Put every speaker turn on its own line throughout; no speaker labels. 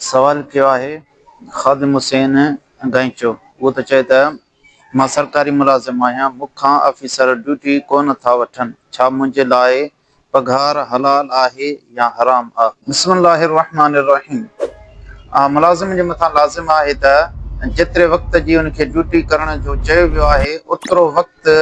سوال ڪيو آهي خادم حسين گائچو اهو ته چئي ته مان سرڪاري ملازم آهيان مون کان آفيسر ڊيوٽي ڪو نه ٿا وٺن ڇا منهنجي لاء پگهار حلال آهي يا حرام آ. بسم الله الرحمٰن الرحيم آ ملازم جي مٿان لازم آهي ته جيتري وقت جي ان کي ڊيوٽي ڪرڻ جو چيو ويو آهي اوترو وقت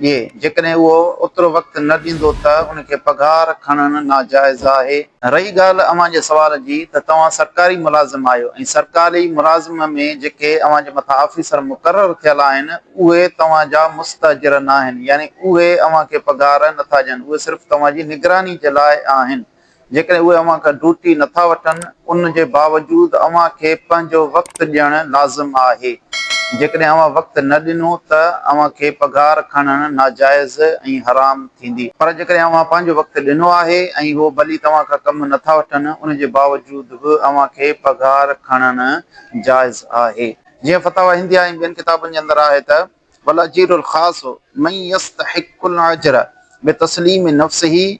ڏي، جيڪڏهن اهو اوترو وقت نه ڏيندو ته ان کي پگهار کڻڻ ناجائز آهي. رهي ڳالهه اوهان جي سوال جي ته توهان سرڪاري ملازم آهيو ۽ سرڪاري ملازم ۾ جيڪي اوهان جي مٿان آفيسر مقرر ٿيل آهن اهي توهان جا مستاجر ناهن يعني اهي اوهان کي پگهار نٿا ڏين اهي صرف توهان جي نگراني جي لاء آهن جيڪڏهن اهي اوهان کان ڊوٽي نه ٿا وٺن، ان جي باوجود اوهان کي پنهنجو وقت ڏيڻ لازم آهي. جيڪڏهن اوهان وقت نه ڏنو ته اوهان کي پگهار کڻڻ ناجائز ۽ حرام ٿيندي. پر جيڪڏهن اوهان پنهنجو وقت ڏنو آهي ۽ هو ڀلي توهان کان ڪم نه ٿا وٺن، ان جي باوجود به اوهان کي پگهار کڻڻ جائز آهي. جيئن فتاويٰ هنديه ۽ ٻين ڪتابن جي اندر آهي ته، والاجير الخاص من يستحق الاجر بتسليم نفسه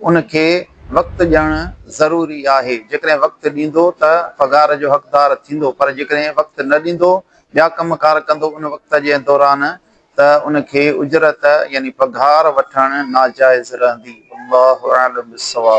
ان کي وقت ڏيڻ ضروري آهي، جيڪڏهن وقت ڏيندو ته پگهار جو حقدار ٿيندو پر جيڪڏهن وقت نه ڏيندو، ٻيا ڪم ڪار ڪندو ان وقت جي دوران ته ان کي اجرت يعني پگهار وٺڻ ناجائز رهندي. والله اعلم بالصواب.